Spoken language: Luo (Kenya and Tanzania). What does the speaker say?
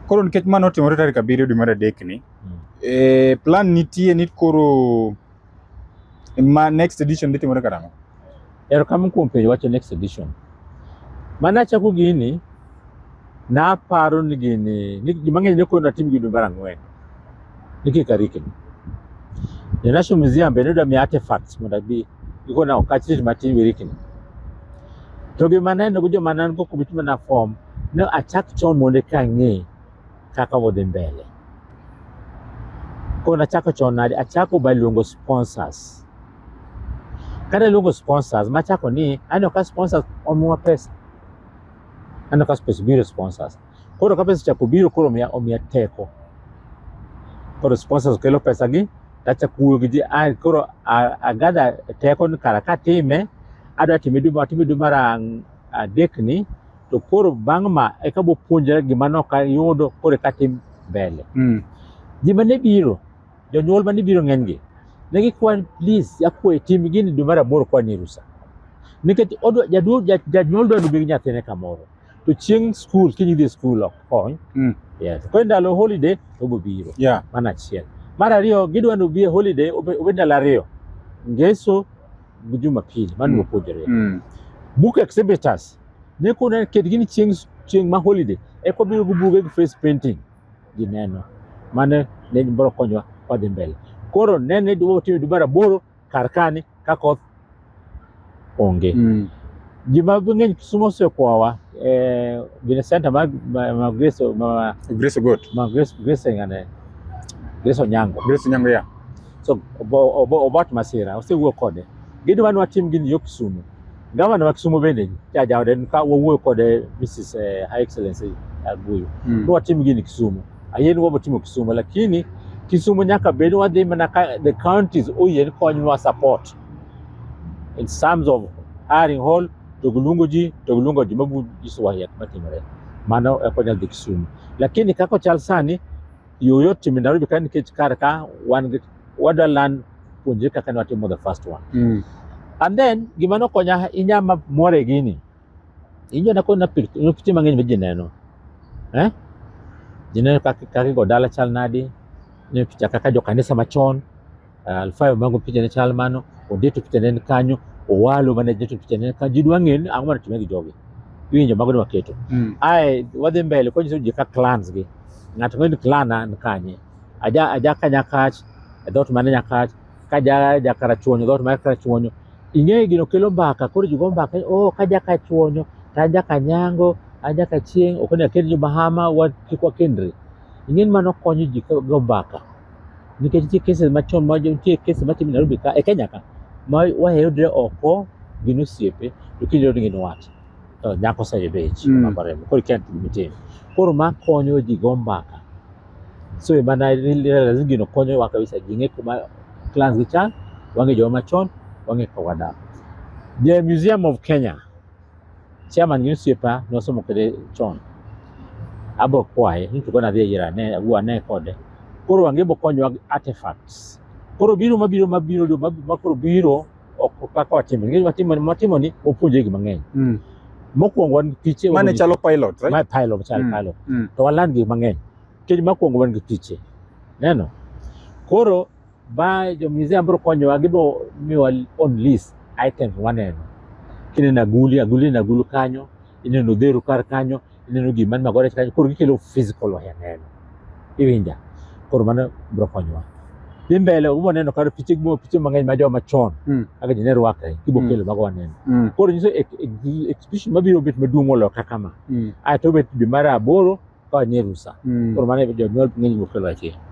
Koro nikech mano otimore tarik abiriyo dwe mar adek ni mm. e, plan nitie ni koro ma next edition dhi timore karang'o? Erokamano kuom penjo wacho next edition. Mane achako gini naparo ni gini ni ji mang'eny ne koro natim gini dwe mar ang'wen nikech karikni. The National Museum bende dwa miya artifacts mondo abi Iko na okachit matin wirikni. To gi maneno gi joma nan go kubituma na form ne achak chon mondo ka ng'e kaka wadhi mbele. Koro nachako chon nade? Achako by luongo sponsors. Kane luongo sponsors, machako ni aneno ka sponsors omiwa pesa. Aneno ka pesa biro sponsors. Koro ka pesa chako biro koro omiya, omiya teko. Koro sponsors kelo pesa gi tachako wuoyo gi ji ah, koro agadha teko ni kara katime adwa time dwe atime dwe mar adek ni to koro bang' ma eka bopuonjra gima nok ayudo koro eka tim mbele. Mm. Ji mane biro, jonyuol mane biro ng'enygi, ne gikwa please akwayi tim gini dwe mar aboro kwa ni rusa. Nikech janyuol dwa duogo gi nyathine kamoro. to chieng' skul kiny idhi skul ok kony mm. yes. koro ndalo holiday obo biro yeah. mana achiel mar ariyo gidwa ni obi e holiday obed ndalo ariyo ngeso gi jumapili mano mm. opuonjore mm. book exhibitors ne kuna ket gini chieng' chieng' ma holiday eko biro gi buge gi face painting gineno mane ne biro konyowa wadhi mbele koro nene dwa timo dwe mar aboro kar kani ka koth onge. Mm. Ji ma mang'eny Kisumo osekwawa eh, gine center ma, ma, ma Grace ma, Grace Ogot. ma Grace Grace ngane Grace Onyango Grace Onyango ya. so obo- obo- obat masira osewuoyo kode gidwa ni watim gini yo Kisumu gavana ma Kisumu bende jajaode ka wawuoyo kode Mrs eh, High Excellency Aguyo Mm. ni watim gini Kisumu Ayen wa batimo Kisumu lakini Kisumu nyaka bed wadhi mana ka the counties oyien konywa support in terms of hiring hall to gilungo ji to gilungo ji mabu jiswa yak matimore mano e konya dhi Kisumu lakini kako chal sani yoyo timi Nairobi ka nikech kar ka wan wadwa land puonjre kaka ne watimo the first one mm. and then gima nokonya inyama more gini Injo na kod na pichni na pichni mang'eny ma ji neno. Eh? Ji neno kaka kaka go dala chal nadi. Ne picha kaka jo kanisa machon. Uh, Alfayo mango picha ne chal mano. Odeto picha ne ni kanyo. Owalo mane jeto picha ne ni kanyo. Ji dwa ng'e ni ang'o mane timore gi jogi. Iwinjo mago ne waketo. Mm. Ae wadhi mbele konyiso ji ka clans gi. Ng'ato ng'eyo ni clan an kanye. Aja aja ka Nyakach, e dhoot mane Nyakach, ka ja ja karachuonyo dhoot mar karachuonyo ing'eyo gino kelo mbaka koro ji go mbaka oh ka ja kachuonyo to an ja kanyango an ja kachieng' ok onego akend jomahama wa- kik wakendre ing'e ni mano konyo ji ka- go mbaka nikech nitie cases machon ma nitie cases matimo Nairobi ka e Kenya ka ma wayudre oko gin osiepe to kinde ni gin wat to nyako oseyudo ich Mm. mabaremo koro ikia gima itimo koro ma konyo ji go mbaka so e mana realize gino konyowa kabisa ji ng'e kuma clans gi chan wang'e joma machon wang'e kaka wadak the museum of kenya chairman gi osiepa nosomo kode chon abo kwaye ni to kona dhi e yira ne agwa ne kode koro wang'e bo konyowa artifacts koro biro mabiro mabiro ma koro biro ok kaka watimo nikech watimo watimo ni wapuonje gik mang'eny Mm. mokwongo wan gi piche Mane wapuonje- chalo pilot, right? ma pilot chal Mm. pilot Mm. to waland gik mang'eny nikech mokwongo wan gi piche neno koro ba jo museum biro konyowa gibo miwa on list items waneno kineno aguli aguli na agulu kanyo ineno odheru kar kanyo ineno gima mako rech kanyo koro gikelo physical e neno iwinja koro mano biro konyowa dhi mbele ubo neno kar piche gimo piche mang'eny ma joma chon mm. kaka jine rwakre kibo mm. kelo mago waneno mm. koro nyiso exhibition mabiro bet maduong' moloyo kaka ma mm. ae to bet dwe mar aboro ka wanye rusa mm. koro mano jonyuol ng'eny bokelo achiel